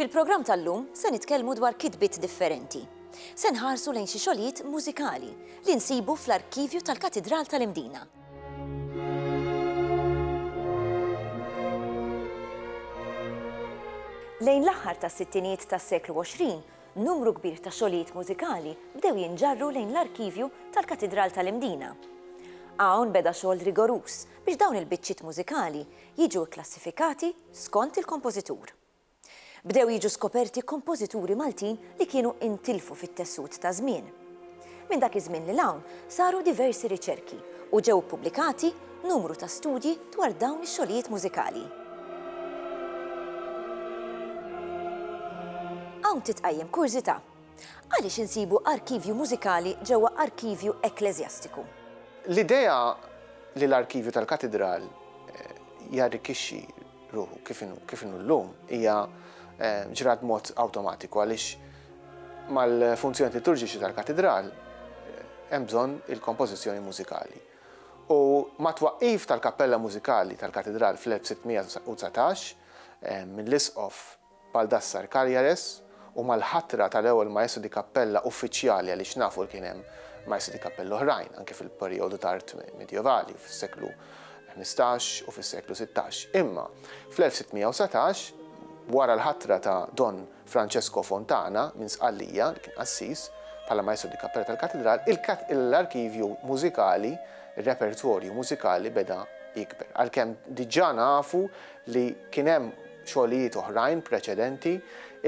Fil-programm tal-lum se nitkellmu dwar kitbiet differenti. Se nħarsu lejn xi xogħlijiet mużikali li nsibu fl-arkivju tal-Katidral tal-Imdina. Lejn l-aħħar tas-sittinijiet tas-seklu 20 numru kbir ta' xogħlijiet mużikali bdew jinġarru lejn l-arkivju tal-Katidral tal-Imdina. Hawn beda xogħol rigoruż biex dawn il-biċċiet mużikali jiġu kklassifikati skont il-kompożitur. Bdew jiġu skoperti kompożituri Maltin li kienu intilfu fit-tessut taż-żmien. Minn dak iż-żmien lil hawn saru diversi riċerki u ġew ippubblikati numru ta' studji dwar dawn ix-xogħlijiet mużikali. Hawn titqajjem kurżità. Għaliex insibu arkivju mużikali ġewwa arkivju ekkleżjastiku? L-idea li l-arkivju tal-katidral jarrikkixxi ruħu kif inhu llum hija ġrat b'mod awtomatiku għaliex Mal-funzjonijiet liturġiċi tal-Katidral hemm bżonn il-kompożizzjoni mużikali u mat-twaqqif tal-Kappella Mużikali tal-Katidral fl-1619 mill-Isqof Baldassar Cagliares u mal-ħatra tal-ewwel Maestro di Cappella uffiċjali għaliex nafu li kien hemm Maestri di Cappella oħrajn anke fil-perijodu tard Midjevali fis-seklu ħmistax u fis-seklu sittax imma fl-1619 wara l-ħatra ta' Don Francesco Fontana minn Sqallija, li kien qassis, bħala Maestro di Cappella tal-Katidral, l-arkivju mużikali, ir-repertorju mużikali beda jikber. Għalkemm diġà nafu li kien hemm xogħlijiet oħrajn preċedenti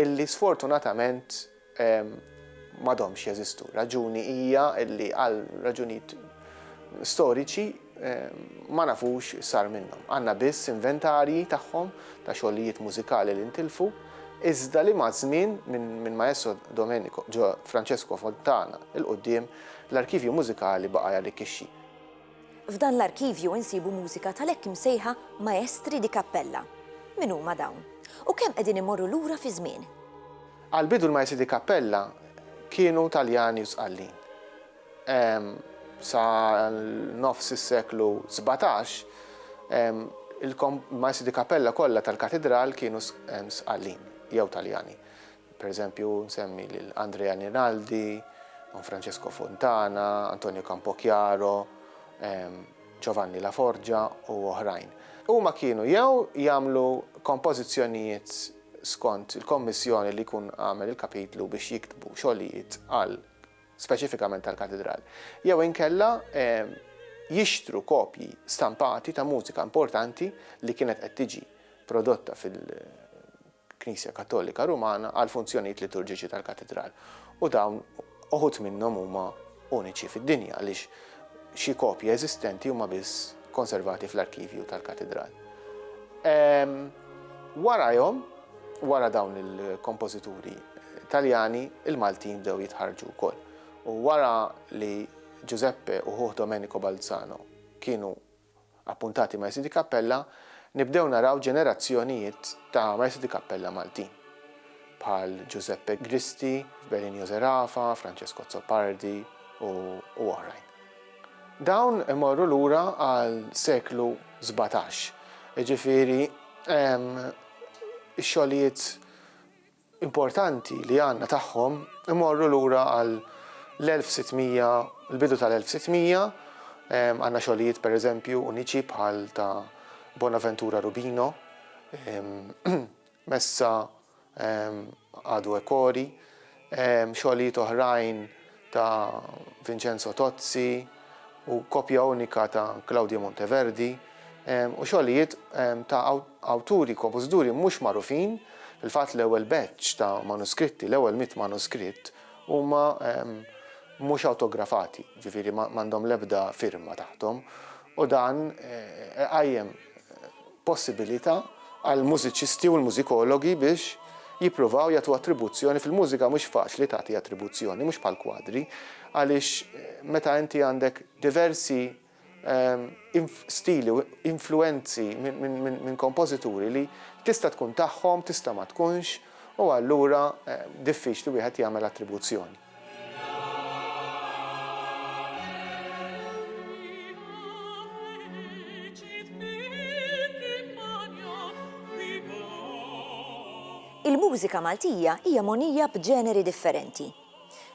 illi sfortunatament m'għadhomx jeżistu. Raġuni hija illi għal raġunijiet storiċi ma nafux x'sar minnhom. Għandna biss inventarji tagħhom ta' xogħlijiet mużikali li ntilfu, iżda li maż-żmien minn Maestro Domenico Francesco Fontana 'l quddiem l-arkivju mużikali baqa' jarrikkixxi. F'dan l-arkivju insibu mużika tal-hekk imsejħa Maestri di Cappella. Min huma dawn? U kemm qegħdin imorru lura fiż-żmien? Għall-bidu l-Maestri di Cappella kienu Taljani u Sqallin. Sa nofs is-seklu sbatax, il-Maisu di Cappella kollha tal-Katidral kienu Sqallin jew Taljani. Per eżempju, nsemmi lil Andrea Rinaldi, Don Francesco Fontana, Antonio Campochiaro, Giovanni La Forgia u oħrajn. Huma kienu jew jagħmlu kompożizzjonijiet skont il-kommissjoni li jkun għamel il-Kapitlu biex jiktbu xogħlijiet għal speċifikament tal-Katidral, jew inkella jixtru kopji stampati ta' mużika importanti li kienet qed tiġi prodotta fil-Knisja Kattolika Rumana għall-funzjonijiet liturġiċi tal-Katidral. U dawn uħud minnhom huma uniċi fid-dinja għaliex xi kopji eżistenti huma biss konservati fl-arkivju tal-Katidral. Warajhom Wara dawn il-kompożituri Taljani, il-Maltin bdew jitħarrġu wkoll. U wara li Giuseppe u ħuh Domenico Balzano kienu appuntati Maestri di Cappella, nibdew naraw ġenerazzjonijiet ta' Maestri di Cappella Maltin, bħal Giuseppe Gristi, Belinio Zerafa, Francesco Azzopardi u oħrajn. Dawn imorru lura għal seklu sbatax, jiġifieri hemm ix-xogħlijiet importanti li għandna tagħhom imorru lura għal l-1600, l-bidu tal-1600, għandna xogħlijiet per eżempju uniċi bħal ta' Bonaventura Rubino, messa għadu ekori, Xogħlijiet oħrajn ta' Vincenzo Tozzi u kopja unika ta' Claudio Monteverdi u xogħlijiet ta' awturi kopożituri mhux magħrufin, fil-fatt l-ewwel batch ta' manuskritti, l-ewwel mitt manuskritt, huma mhux awtografati, jiġifieri m'għandhom l-ebda firma taħthom u dan iqajjem possibilità għall-mużiċisti u l-mużikologi biex jippruvaw jagħtu attribuzzjoni, fil-mużika mhux faċli tagħti attribuzzjoni, mhux bħall-kwadri, għaliex meta inti għandek diversi stili u influwenzi minn kompożituri li tista' tkun tagħhom, tista' ma tkunx, u allura diffiċli wieħed jagħmel attribuzzjoni. Il-mużika Maltija hija mogħnija b'ġeneri differenti.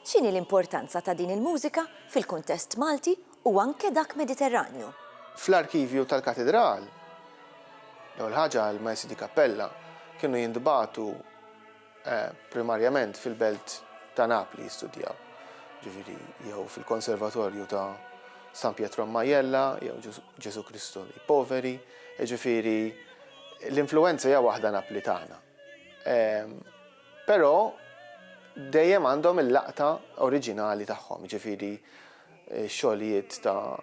X'inhi l-importanza ta' din il-mużika fil-kuntest Malti u anke dak Mediterranju? Fl-arkivju tal-Katidral, l-ewwel ħaġa l-Maestri di Cappella kienu jintbagħtu. primarjament fil-belt ta' Napli jistudjaw, jiġifieri jew fil-Konservatorju ta' San Pietro a Majella jew Gesù Cristo dei Poveri, jiġifieri l-influwenza hija waħda Naplitana. Però dejjem għandhom il-laqta oriġinali tagħhom, jiġifieri x-xogħlijiet ta'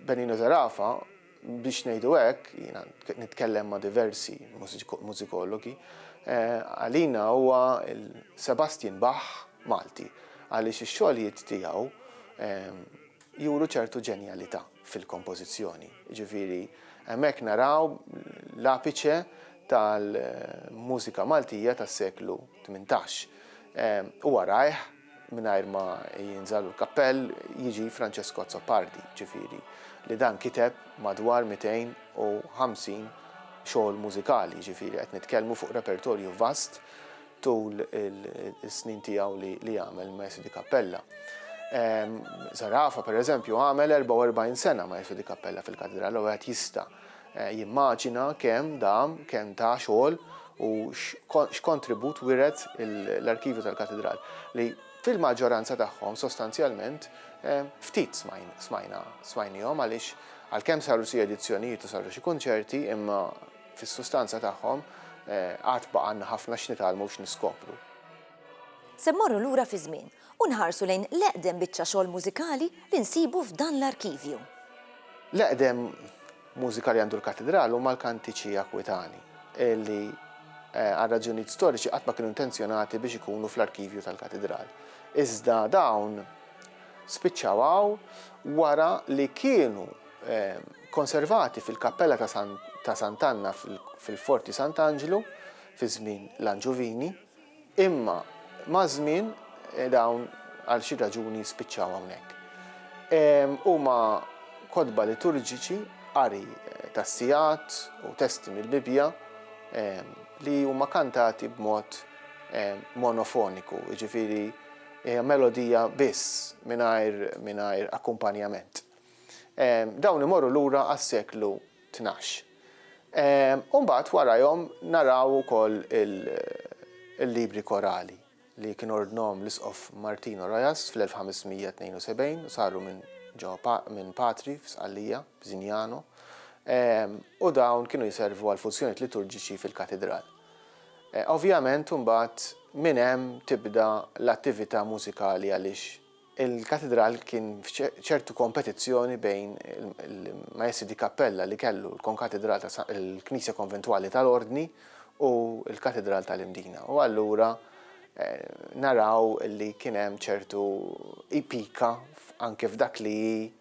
Benigno Zarafa, Biex ngħidu hekk, jiena nitkellem ma' diversi mużikologi, għalina huwa l-Sebastian Bach Malti għaliex ix-xogħlijiet tiegħu juru ċertu ġenjalità fil-kompożizzjoni. Jiġifieri hemmhekk naraw l-apiċe tal-mużika Maltija tas-seklu tmintax. Huwa rajh mingħajr ma jinżagħlu l-kappell, jiġi Francesco Azzopardi, ġifieri li dan kiteb madwar 250 xogħol mużikali, ġifieri qed nitkellmu fuq repertorju vast tul is-snin tiegħu li għamel il-Maestro di Cappella. Zarafa, pereżempju, għamel 44 sena Maestro di Cappella fil-Katidral u wieħed jista' Jimmaġina kemm dam, kemm ta xogħol u x'kontribut wiret l-arkivju tal-Katidral, li fil-maġġoranza tagħhom sostanzjalment ftit smajnihom għaliex għalkemm saru xi edizzjonijiet u saru xi kunċerti imma fis-sustanza tagħhom għad baqgħalna ħafna x'nitgħallmu u x'niskopru. Se mmorru lura fiż-żmien. U nħarsu lejn l-eqdem biċċa xogħol mużikali li nsibu f'dan l-arkivju. L-eqdem mużika li għandu l-Katidral huma l-kantiċi Akwitani, li għal raġunijiet storiċi qatt ma kienu intenzjonati biex ikunu fl-arkivju tal-Katidral. Iżda dawn spiċċaw hawn wara li kienu konservati fil-Kappella ta' Sant'Anna fil-Forti Sant'Anġlu fi żmien l-Anġuvini. Imma maż-żmien dawn għal xi raġuni spiċċaw hawnhekk. Huma kotba liturġiċi, qari tas-sigħat u testi mill-Bibbja li huma kantati b'mod monofoniku, jiġifieri hija melodija biss mingħajr akkumpanjament. Dawn imorru lura għas-seklu tnax. U mbagħad warajhom naraw ukoll il-libri korali li kien ordnhom l-Isqof Martino Rojas fl-1572 u saru minn ġo minn patri f'Sqallija, f'Zignano, u dawn kienu jservu għal funzjonijiet liturġiċi fil-katidral. Ovvjament imbagħad minn hemm tibda l-attività mużikali għaliex Il-Katidral kien f'ċertu kompetizzjoni bejn il-Maestri di Cappella li kellu l-Konkatidral ta' San il-Knisja Konventwali tal-Ordni u l-Katidral tal-Imdina u allura naraw li kien hemm ċertu pika anke f'dak li hi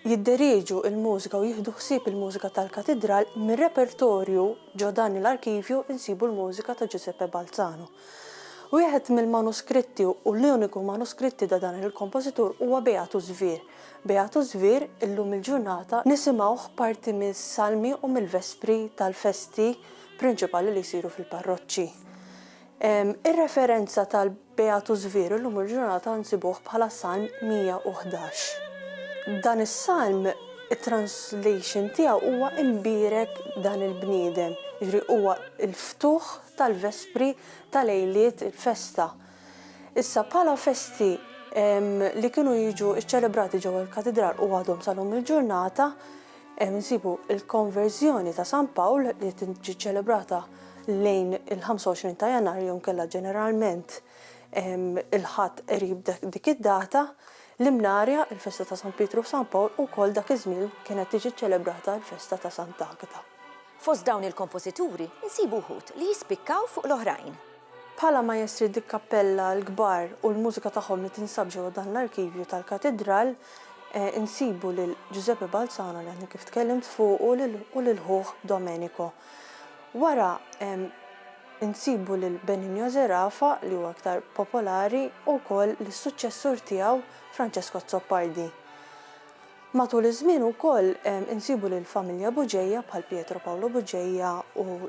jidderieġu l-mużika u jieħdu ħsieb il-mużika tal-Katidral, mir-repertorju ġo dan l-arkivju insibu l-mużika ta' Giuseppe Balzano. Wieħed mill-manuskritti u l-uniku manuskritti ta' dan il-kompożitur huwa Beatus vir. Beatus vir, illum il-ġurnata, nisimgħuh parti mis-salmi u mill-vespri tal-festi prinċipali li jsiru fil-parroċċi. Ir-referenza tal. Beatu Żvir illum il-ġurnata nsibuh bħala s-Salm 111. Dan is-Salm it-translation tiegħu huwa Imbierek dan il-bniedem, jiġri huwa l-ftuħ tal-Vespri ta' lejliet il-festa. Issa bħala festi li kienu jiġu ċċelebrati ġewwa l-Katidral u għadhom sal-lum il-ġurnata, Hemm insibu l-Konverżjoni ta' San Pawl li tiġi ċċelebrata lejn il-25 ta' Jannar jew inkella ġeneralment il-Ħadd qrib dik id-data. L-Imnarja, il-festa ta' San Pietru u San Pawl ukoll dak iż-żmien kienet tiġi ċċelebrata l-festa ta' Sant'Agata. Fost dawn il-kompożituri nsibu wħud li jispikkaw fuq l-oħrajn. Bħala maestri dikkappella l-kbar u l-mużika tagħhom li tinsab ġewwa dan l-arkivju tal-Katidral, insibu lil Giuseppe Balzano li għadni kif tkellimt fuqu u lil ħuh Domenico. Wara insibu lil Benigno Zerafa li huwa iktar popolari u wkoll lis-suċċessur tiegħu Francesco Azzopardi. Matul iż-żmien ukoll insibu lill-familja Bugeja bħal Pietro Paolo Bugeja u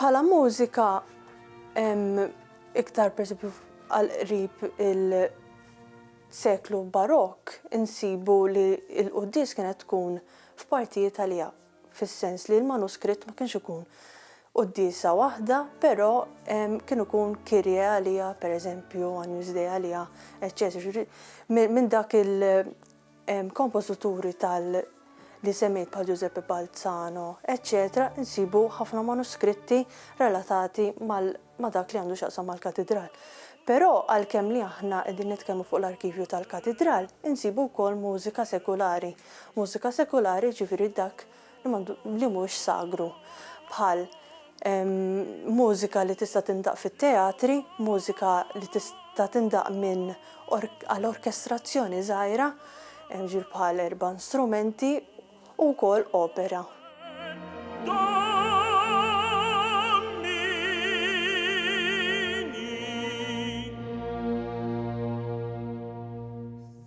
Bħala mużika hemm iktar pereżempju għal qrib il-seklu Barokk insibu li l-quddies kienet tkun f'partijiet għaliha, fis-sens li l-manuskritt ma kienx ikun quddiesa waħda, però kien ikun Kyrie għaliha pereżempju, Agnus Dei għaliha, eċċetera. Jiġifieri minn dak il- kompożituri tal li semmejt bħal Giuseppe Balzano eċċetera insibu ħafna manuskritti relatati mal ma' dak li għandu x'jaqsam mal-Katidral. Però għalkemm li aħna qegħdin nitkellmu fuq l-arkivju tal-Katidral, insibu wkoll mużika sekulari. Mużika sekulari jiġifieri dak li mhux sagru, bħal mużika li tista' tindaqq fit-teatri, mużika li tista' tindaqq minn għal orkestrazzjoni żgħira, jiġifieri bħal erba' strumenti, u wkoll opera.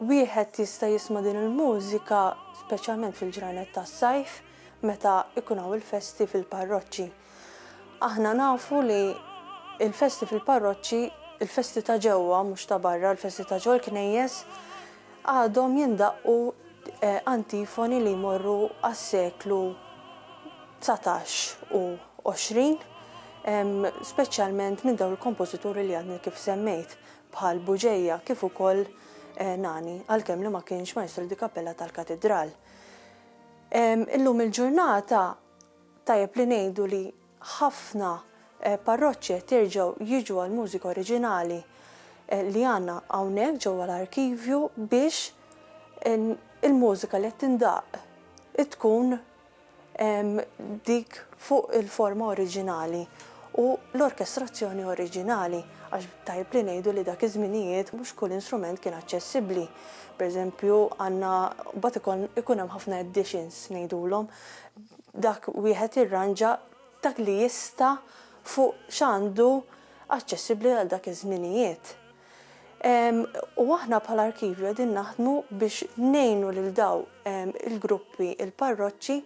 Wieħed jista' jisma' din il-mużika speċjalment fil-ġranet tas-sajf meta jkun hawn il-festi fil-parroċċi. Aħna nafu li l-festi fil-parroċċi, il-festi ta' ġewwa mhux ta' barra, il-festi ta' ġewwa l-knejjes, għadhom jindaqqu antifoni li jmorru għas-seklu dsatax u għoxrin, speċjalment minn dawn il-kompożituri li għadni kif semmejt. bħal Buġeja kif ukoll Nani, għalkemm li ma kienx Maestro di Cappella tal-Katidral. Illum il-ġurnata tajjeb li ngħidu li ħafna parroċċi qed jerġgħu jiġu għall-mużika oriġinali li għandna hawnhekk ġewwa l-arkivju biex il-mużika li qed tindaqq tkun dik fuq il-forma oriġinali u l-orkestrazzjoni oriġinali, għax tajjeb li ngħidu li dak iż-żminijiet mhux kull instrument kien aċċessibbli. Pereżempju, għandna mbagħad ikun hemm ħafna editions ngħidulhom, dak wieħed jirranġa dak li jista' fuq x'għandu aċċessibbli għal dak iż-żminijiet. U aħna bħala Arkivju qegħdin naħdmu biex ngħinu lil dawn il-gruppi, il-parroċċi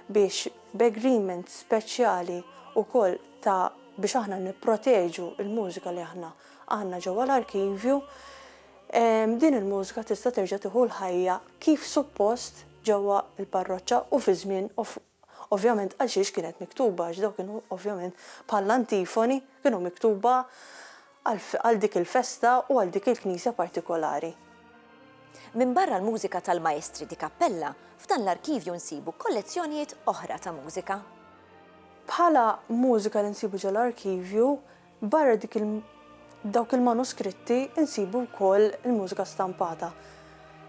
biex b'agreement speċjali wkoll ta' biex aħna nipproteġu l-mużika li aħna għandna ġewwa l-Arkivju, din il-mużika tista' terġa' tieħu l-ħajja kif suppost ġewwa l-parroċċa u fi żmien Ovvjament għalxiex kienet miktuba għax dawn kienu ovvjament bħall-antifoni kienu miktuba għal dik il-festa u għal dik il-knisja partikolari. Minbarra l-mużika tal-Maestri di Cappella, f'dan l-arkivju nsibu kollezzjonijiet oħra ta' mużika. Bħala mużika li nsibu ġol-arkivju Barra dik il dawk il-manuskritti nsibu wkoll il-mużika stampata.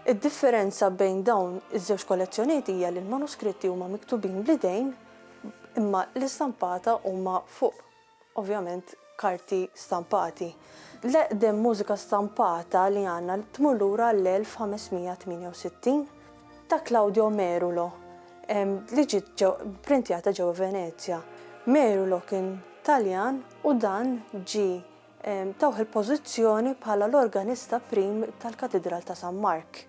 Id-differenza bejn dawn iż-żewġ kollezzjonijiet hija li l-manuskritti huma miktubin bl-idejn imma l-istampata huma fuq ovvjament karti stampati. L-eqdem mużika stampata li għandna tmur lura għall-1568. ta' Claudio Merulo li ġiet pprintjata ġewwa Venezja. Merulo kien Taljan u dan ġie tawh il-pożizzjoni bħala l-organista prim tal-Katidral ta' San Mark.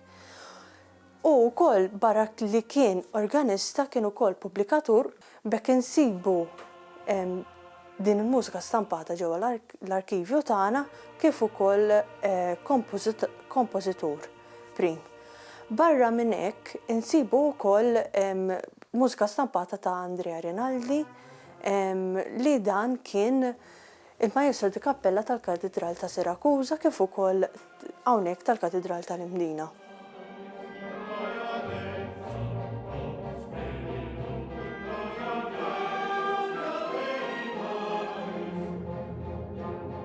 Hu wkoll barra li kien organista kien ukoll pubblikatur, b'hekk insibu din il-mużika stampata ġewwa l-arkivju tagħna kif ukoll kompożitur. Prim. Barra minn hekk insibu wkoll mużika stampata ta' Andrea Rinaldi li dan kien il-Majestro di Kappella tal-Katidral ta' Sirakuża kif ukoll hawnhekk tal-Katidral tal-Imdina.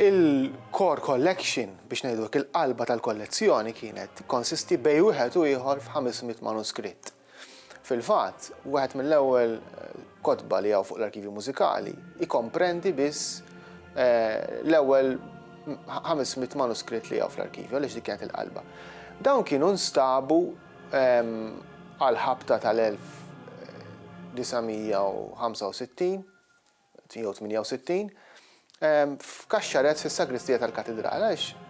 Il-core collection, biex ngħidu hekk, il-qalba tal-kollezzjoni kienet tikkonsisti bejn wieħed u ieħor f'ħames mitt manuskritt. Fil-fatt, wieħed mill-ewwel kotba li hawn fuq l-Arkivju Mużikali jkomprendi biss l-ewwel ħames mitt manuskritt li hawn fl-arkivju għaliex dik kienet il-qalba. Dawn kienu nstabu għall-ħabta tal-1965. 168, f'kaxxarezz fis-sagristija tal-Katidral, għaliex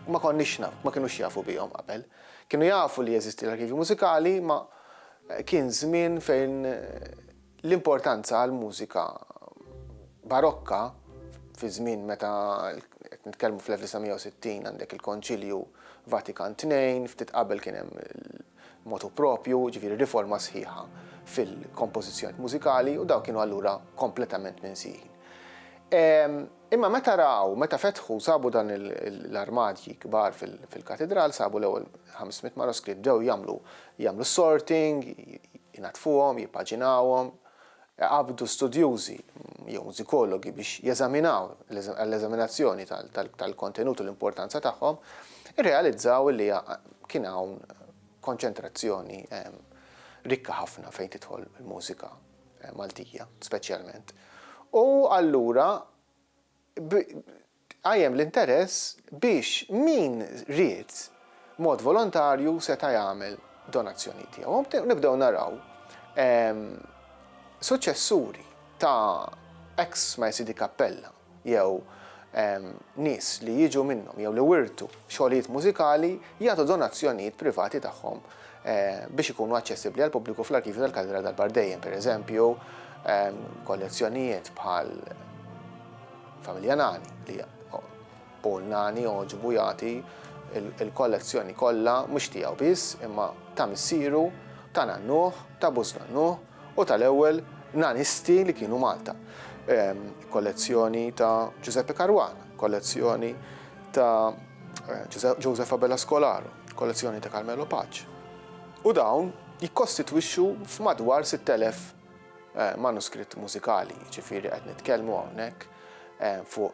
ma konniex naf, ma kinux jafu bihom qabel. Kienu jafu li jeżisti l-Arkivju Mużikali, ma kien żmien fejn l-importanza għall-mużika Barokka, fi żmien meta qed nitkellmu fl-1960 għandek il-Konċilju Vatikan Tnejn, ftit qabel kien hemm motu proprju, jiġifieri riforma sħiħa fil-kompożizzjonijiet mużikali u dawn kienu allura kompletament minsijin. Imma meta raw, meta fetħu sabu dan l-armadji kbar fil-katidral, sabu l-ewwel 500 manuskritt bdew jagħmlu sorting, jnaddfuhom, jippaġinawhom, qabdu studjużi jew mużikologi biex jeżaminaw għall-eżaminazzjoni tal-kontenut u l-importanza tagħhom, irrealizzaw li kien hawn konċentrazzjoni rikka ħafna fejn tidħol il-mużika Maltija speċjalment. U allura qajjem l-interess biex min ried b'mod volontarju seta' jagħmel donazzjoni tiegħu. Nibdew naraw suċċessuri ta' ex Majsidi Kappella jew nies li jiġu minnhom jew li wirtu xogħlijiet mużikali jagħtu donazzjonijiet privati tagħhom biex ikunu aċċessibbli għall-pubbliku fl-Arkivju tal-Kaldera Dalbar Dejjem, pereżempju, kollezzjonijiet bħal Familja Nani li Paul Nani oġbu jagħti il-kollezzjoni kollha mhux tiegħu biss imma ta' missieru, ta' nannuh, ta' buż nannuh, u tal-ewwel nanisti li kienu Malta. Kollezzjoni ta' Ġużeppi Caruana, kollezzjoni ta' Joseph Abela Scolaro, kollezzjoni ta' Carmelo Pace. U dawn jikkostitwixxu f'madwar 6,000 manuskritt mużikali, jiġifieri qed nitkellmu hawnhekk fuq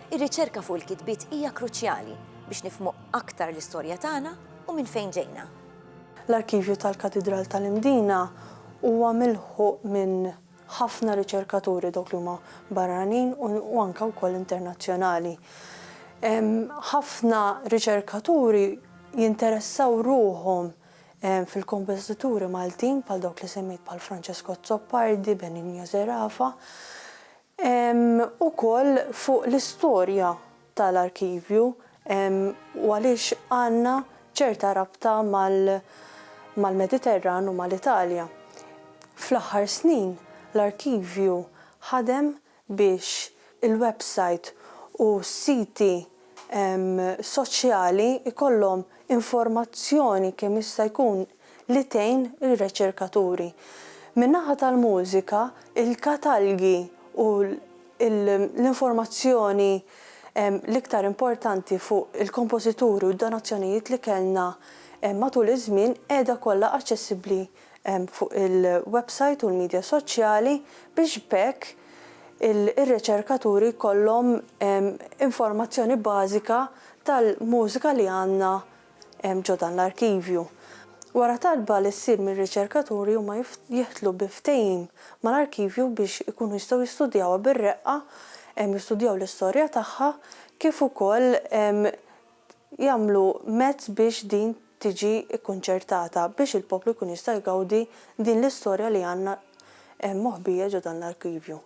Ir-riċerka fuq il-kitbiet hija kruċjali biex nifhmu aktar l-istorja tagħna u minn fejn ġejna. L-Arkivju tal-Katidral tal-Imdina huwa milħuq minn ħafna riċerkaturi dawk li huma barranin u anke wkoll internazzjonali. Ħafna riċerkaturi jinteressaw ruħhom fil-kompożituri Maltin bħal dawk li semmejt bħal Francesco Azzopardi, Benigno Zerafa. Hemm ukoll fuq l-istorja tal-arkivju u għaliex għandna ċerta rabta mal-Mediterran u mal-Italja. Fl-aħħar snin l-arkivju ħadem biex il-websajt u s-siti soċjali jkollhom informazzjoni kemm jista' jkun li tgħin ir-reċerkaturi. Min-naħa tal-mużika, il-katalgi u l-informazzjoni l-iktar importanti fuq il-kompożituri u d-donazzjonijiet li kellna matul iż-żmien qiegħda kollha aċċessibbli fuq il-websajt u l-midja soċjali biex b'hekk ir-reċerkaturi jkollhom informazzjoni bażika tal-mużika li għandna hemm ġo dan l-arkivju. Wara talba li ssir mir-riċerkaturi huma jidħlu bi ftehim mal-arkivju biex ikunu jistgħu jistudjawha bir-reqqa, jistudjaw l-istorja tagħha kif ukoll jagħmlu mezz biex din tiġi kkunċertata biex il-poplu jkun jista' jgawdi din l-istorja li għandna moħbija ġo dan l-arkivju.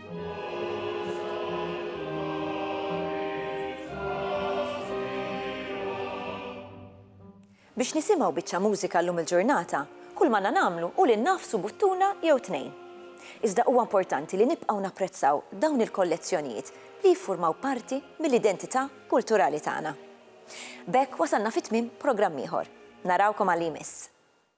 Biex nisimgħu biċċa mużika llum il-ġurnata, kull m'għandna nagħmlu hu li nnagħfsu buttuna jew tnejn. Iżda huwa importanti li nibqgħu napprezzaw dawn il-kollezzjonijiet li jiffurmaw parti mill-identità kulturali tagħna. B'hekk wasalna fi tmiem programm ieħor. Narawkom għal li jmiss.